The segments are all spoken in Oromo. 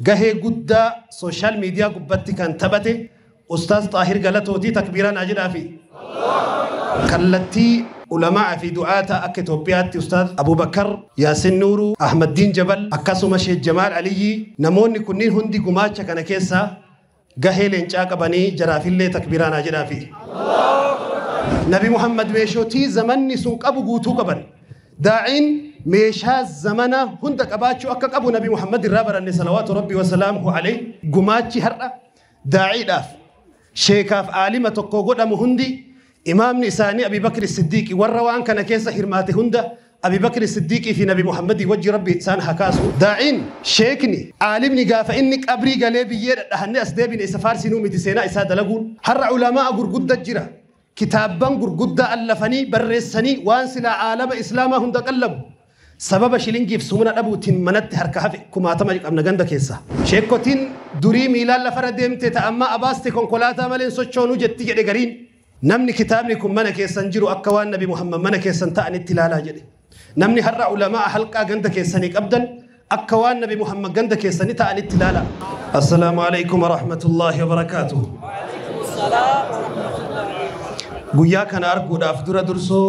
Gahee guddaa social media gubbatti kan taphate ustaaz xaahir galatooti takbiiraa naa jedhaafi. Kallattii ulama'aa fi du'aata akka Itoophiyaatti ustaaz Abubakkar, Yaasin Nuuruu, Ahmaddiin Jabal akkasuma Sheek Jamaal Aliyyii namoonni kunniin hundi gumaacha kana keessaa Gahee leencaa qabanii jaraafillee takbiiraa naa jedhaafi. Nabi Muhammad meeshootii zamanni sun qabu guutuu qaban. Daa'iin meeshaa zamana hunda qabaachuu akka qabu Nabi Muhammad irraa baranne salawaatu rabbi wasalaamuhu alayhi gumaachi har'a daa'iidhaaf sheekaaf aalima tokko godhamu hundi imaamni isaanii Abi Bakri Siddiiqi warra waan kana keessa hirmaate hunda Abi Bakri Siddiiqii fi Nabi Muhammadii wajji Rabbi isaan haa kaasu, daa'iin, sheekni, aalimni gaafa inni qabrii galee biyyee dhadhahannee as deebine isa faarsinuu miti seenaa isaa dalaguun. Har'a ulamaa'a gurgudda jira. Kitaabban gurguddaa allafanii, barreessanii waan silaa aalama Islaamaa hunda qallabu. Sababa shilingiif sumuna dhabuutiin manatti harka hafe kumaatama qabna ganda keessa. Sheekkotiin durii miilaan lafarra deemte ta ammaa abaaste konkolaataa malee hin sochoonu jetti jedhe gariin. Namni kitaabni kun mana keessan jiru akka waan Nabi Muhammad mana keessan ta'anitti ilaalaa jedhe. Namni har'a ulama'a halqaa ganda keessanii qabdan akka waan Nabi Muhammad ganda keessanii ta'anitti ilaalaa. Assalaamu alaikum wa rahmatullahi wa barakaatuh. Guyyaa kana arguudhaaf dura dursoo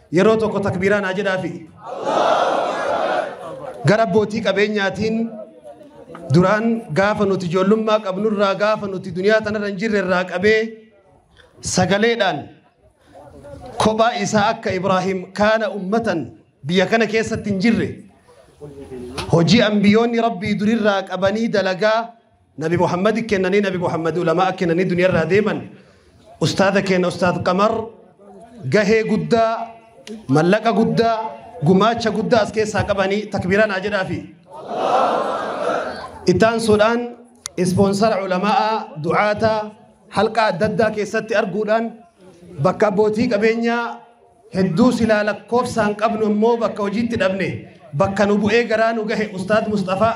Yeroo tokko takbiiraa naa jedhaafi. Gara abbootii qabeenyaatiin duraan gaafa nuti ijoollummaa qabnurraa gaafa nuti duniyaa tanarra hin jirre irraa qabee sagaleedhaan kophaa isaa akka Ibraahim kaana ummatan biyya kana keessatti hin jirre hojii ambiyoonni rabbii durirraa qabanii dalagaa Nabi Muhammad kennanii Nabi Muhammad ulamaa kennanii duniyaa irraa deeman ustaada keenya ustaad Qamar gahee guddaa mallaqa guddaa gumaacha guddaa as keessaa qabanii takbiiraan haa jedhaafi. Ittaan suudhaan ispoonsara ulamaa du'aata halqa adda addaa keessatti arguudhaan bakka abbootii qabeenyaa hedduu silaa lakkoofsaan qabnu immoo bakka hojiitti dhabne bakka nu bu'ee garaa nu gahe ustaad Mustafaa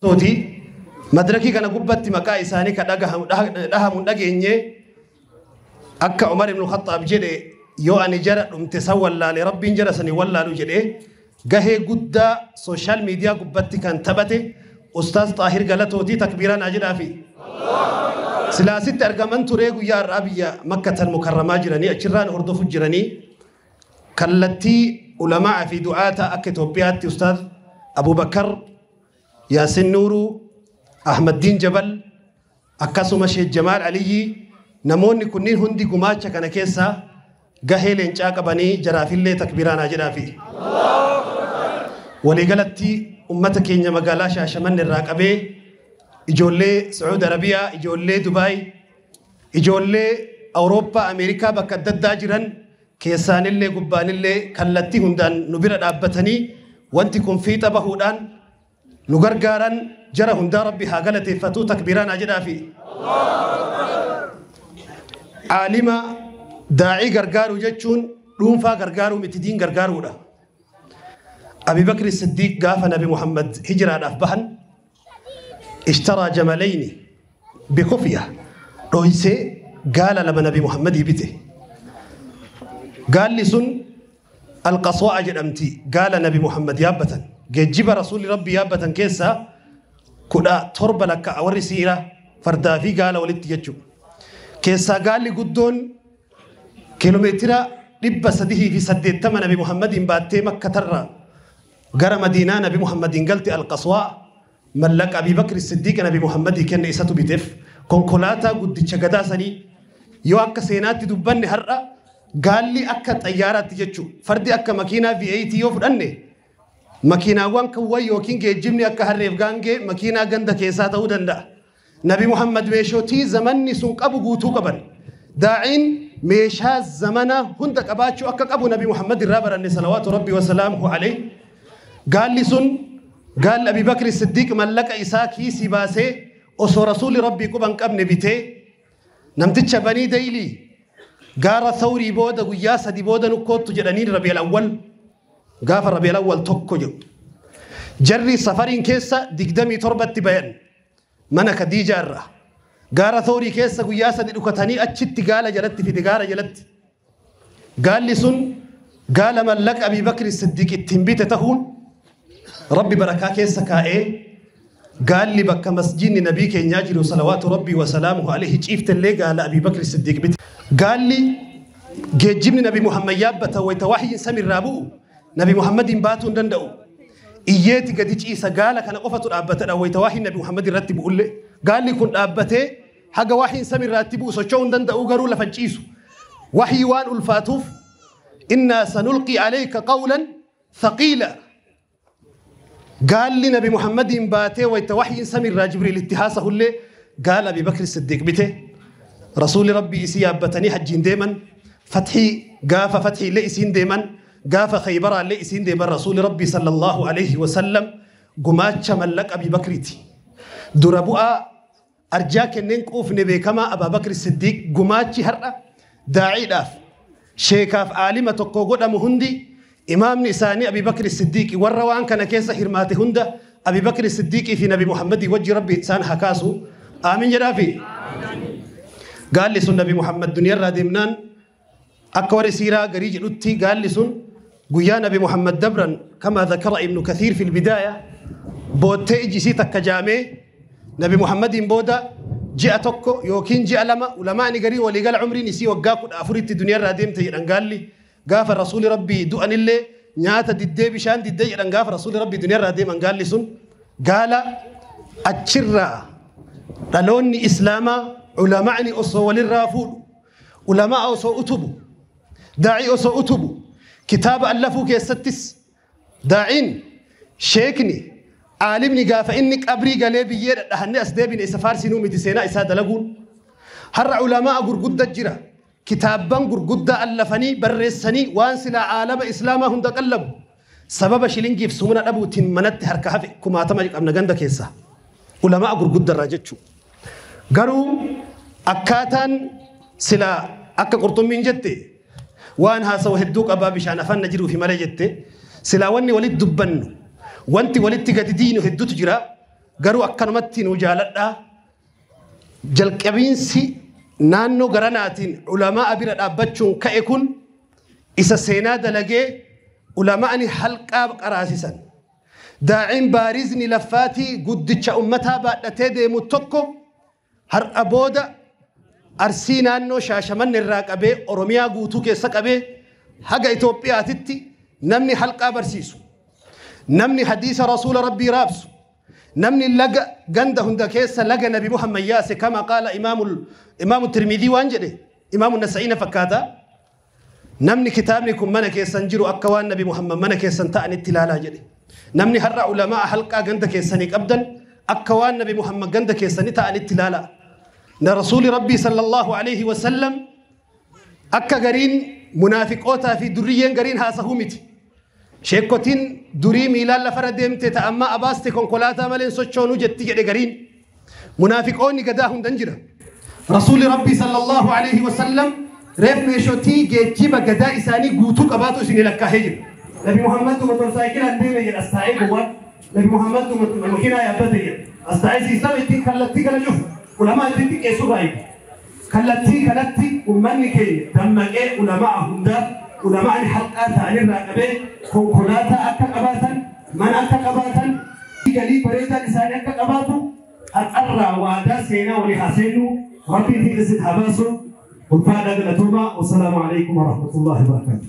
tooti madirakii kana gubbatti maqaa isaanii ka dhagahamu dhahamu hin dhageenye akka Umar ibn Khattaab jedhe yoo ani jara dhumte san wallaale rabbiin jara sani wallaalu jedhe Gahee guddaa social media gubbatti kan taphate ustaaz xaahir galatooti takbiiraa naa jedhaafi. Silaa asitti argaman turee guyyaa har'aa biyya makkatan mukarramaa jiranii achirraan hordofu jiranii kallattii ulamaa fi du'aata akka Itoophiyaatti ustaaz Abubakar Yaasin Nuuruu Ahmaddiin Jabal Akkasuma Sheek Jamaal Aliyyii namoonni kunniin hundi gumaacha kana keessa gahee leencaa qabanii jaraafillee takbiiraa naa jedhaafi. Waliigalatti ummata keenya magaalaa Shaashamanne irraa qabee ijoollee Sacuud Arabiyaa, ijoollee Dubaay, ijoollee Awurooppaa, Ameerikaa bakka adda addaa jiran keessaanillee gubbaanillee kallattii hundaan nu bira dhaabbatanii wanti kun fiixa bahuudhaan nu gargaaran jara hundaa rabbi haa galateeffatuu takbiiraan haa jedhaafi aalima daa'ii gargaaruu jechuun dhuunfaa gargaaruu miti diin gargaaruudha abibakri siddiiq gaafa nabi muhammad hijiraadhaaf bahan ishtaraa jamalayni bikufiya dhoysee gaala lama nabi muhammadii bite gaalli sun Al-Qaswa'a jedhamti. Gaala Nabi Muhammad yaabbatan, geejjiba Rasuulli Rabbii yaabbatan keessaa 17 lakkaa'a. Warri siira fardaa fi gaala walitti jechuudha. Keessaa gaalli guddoon kiiloomeetira 380 Nabi Muhammadiin baattee Makkatarraa gara Madiinaa Nabi Muhammadiin galte Al-Qaswa'a. Mallaqa Abii Bakri Siddiiqi Nabi Muhammadii kenne isatu bitef, konkolaataa guddicha gadaa sanii. Yoo akka seenaatti dubbanne har'a gaalli akka xayyaaraatti jechuu, fardi akka makiinaa V8 yoo fudhanne, makiinaawwan kuwwan ykn geejjibni akka harreef gaangee makiinaa ganda keessaa ta'uu danda'a. Nabi Muhammad meeshootii zamanni sun qabu guutuu qaban. Daa'iin meeshaa zamana hunda qabaachuu akka qabu Nabi Muhammad irraa baranne salawaatu rabbi wasalaamuhu alayhi. Gaalli sun gaalli Abi Bakri Siddiiq mallaqa isaa kiisii baasee osoo rasuulli rabbii quba hin qabne bitee namticha banii daylii gaara thawrii booda guyyaa sadi booda nukkoottu jedhaniin rabi'al awwal gaafa rabi'al awwal tokko jedhu. Jarri safariin keessa digdamii torbatti bayan. Mana Kadiijaa irraa gaara Thoorii keessa guyyaa sadi dhukatanii achitti gaala jalatti fide gaara jalatti. Gaalli sun gaala mallaqa Abii Bakri Siddiq ittiin bite tahuun Rabbi barakaa keessa kaa'ee gaalli bakka masjiinni nabii keenyaa jiru salawaatu Rabbii wasalaamuhu alayhi ciiftellee gaala Abii Bakri Siddiq bite. Gaalli geejjibni nabi Muhammad yaabbata wayita wahyiin samiirraa bu'u Nabi Muhammadiin baatuu hin danda'u. Iyyeeti gadi ciisa gaala kana qofatu dhaabbatadha wayita waahiin Nabi Muhammad irratti bu'ullee. Gaalli kun dhaabbatee haga waahiin sami irratti bu'u socho'uu hin danda'u garuu lafa hin ciisu. Wahii waan ulfaatuuf innaa sanulqii aleeyka qawlan thaqiila. Gaalli Nabi Muhammadiin baatee wayta wahyiin samiirraa Jibriil itti haasahullee gaala Abii Bakri Siddiiq bite. Rasuulli Rabbii isii yaabbatanii hajjiin deeman. Fathii gaafa fathiillee isiin deeman. Gaafa Khaybaraallee isiin deeman Rasuulli Rabbii sallallahu alayhi wa sallam gumaacha mallaqa Abii Bakriiti. Dura bu'aa Arjaa kenneen quufne beekamaa Abaabakri Siddiiq gumaachi har'a daa'iidhaaf, sheekaaf aalima tokkoo godhamu hundi imaamni isaanii Abiibakri Siddiiqi warra waan kana keessa hirmaate hunda Abiibakri Siddiiqii fi Nabi Muhammadii wajji Rabbi isaan haa kaasu. Aamiin jedhaafi. Gaalli sun Nabi Muhammad duniyarraa deemnaan Akka warri siiraa garii jedhutti gaalli sun guyyaa nabi Muhammad dabran kama zakara ibnu kathiir fil bidaaya boottee iji isii takka jaamee nabi Muhammadiin booda ji'a tokko yookiin ji'a lama ulamaani garii waliigala umriin isii waggaa kudha afuritti duniyaarraa deemte jedhan gaalli gaafa rasuuli rabbii du'anillee nyaata diddee bishaan diddee jedhan gaafa rasuuli rabbii duniyaarraa deeman gaalli sun gaala achirraa dhaloonni islaamaa ulamaani osoo walirraa fuudhu Ulama'a osoo utubu, daa'ii osoo utubu, kitaaba allafuu keessattis daa'iin, sheekni, aalimni gaafa inni qabrii galee biyyee dhadhahannee as deebine isa faarsinuu miti seenaa isaa dalaguun. Har'a ulama'a gurgudda jira. Kitaabban gurguddaa allafanii barreessanii waan silaa aalama islaamaa hunda qallabu Sababa shilingiif sumuna dhabuutiin manatti harka hafe kumaatama qabna ganda keessaa. Ulamaa gurguddarraa jechuudha. Garuu akkaataan silaa akka qurxummiin jette waan haasawa hedduu qabaa bishaan afaan na jiruufi malee jette silaa wanni walitti dubbannu wanti walitti gadi diinu hedduutu jira garuu akkanumatti nu jaaladhaa jalqabiinsi naannoo garanaatiin ulamaa bira dhaabbachuun ka'e kun isa seenaa dalagee ulama'ani halqaa qaraasisan daa'iin baarizni laffaatii guddicha ummataa baadhatee deemu tokko har'a booda arsii naannoo shaashamanne irraa qabee oromiyaa guutuu keessa qabee haga Itoophiyaatitti namni halqaa barsiisu namni hadiisa rasuula rabbii raabsu namni laga ganda hunda keessa laga nabi muhammad yaase kama qaala imaamu tirmidii waan jedhe imaamu nasa'iina fakkaata namni kitaabni kun mana keessan jiru akka waan nabi muhammad mana keessan ta'anitti ilaalaa jedhe namni har'a ulamaa halqaa ganda keessanii qabdan akka waan nabi muhammad ganda keessanii ta'anitti ilaalaa na rasuuli rabbii sallallahu alaihi wasallam akka gariin munaafiqootaa fi durriyyeen gariin haasahuu miti Sheekkotiin durii miilaan lafarra deemte ta ammaa abaaste konkolaataa malee hin sochoonu jetti jedhe gariin. Munaafiqoonni gadaa hundan jira. Rasuulli Rabbii sallallahu alaihi wasallam reef meeshotii geejjiba gadaa isaanii guutuu qabaatu isin lakkaahee jira. Nabi Muhammad motorsaayikilaan deeme jedha as taa'ee gowwaan. Nabi Muhammad makiinaa yaabbate jedha as taa'ee siistama ittiin kallattii kana cufu ulamaa ittiin xiqqeessu baay'ee. Kallattii kanatti ummanni keenya dammaqee ulama'a hundaaf, ulama'ni haqqaa ta'an irraa qabee konkolaataa akka qabaatan, mana akka qabaatan, galii bareedaan isaanii akka qabaatu har'arraa waadaa seenaa walii haa seennu. Rabbiin fiixa isin haa baasu. Ulfaadhaa galatoomaa. Wassalaamu aleykum warahmatullaahi wabarakaatuh.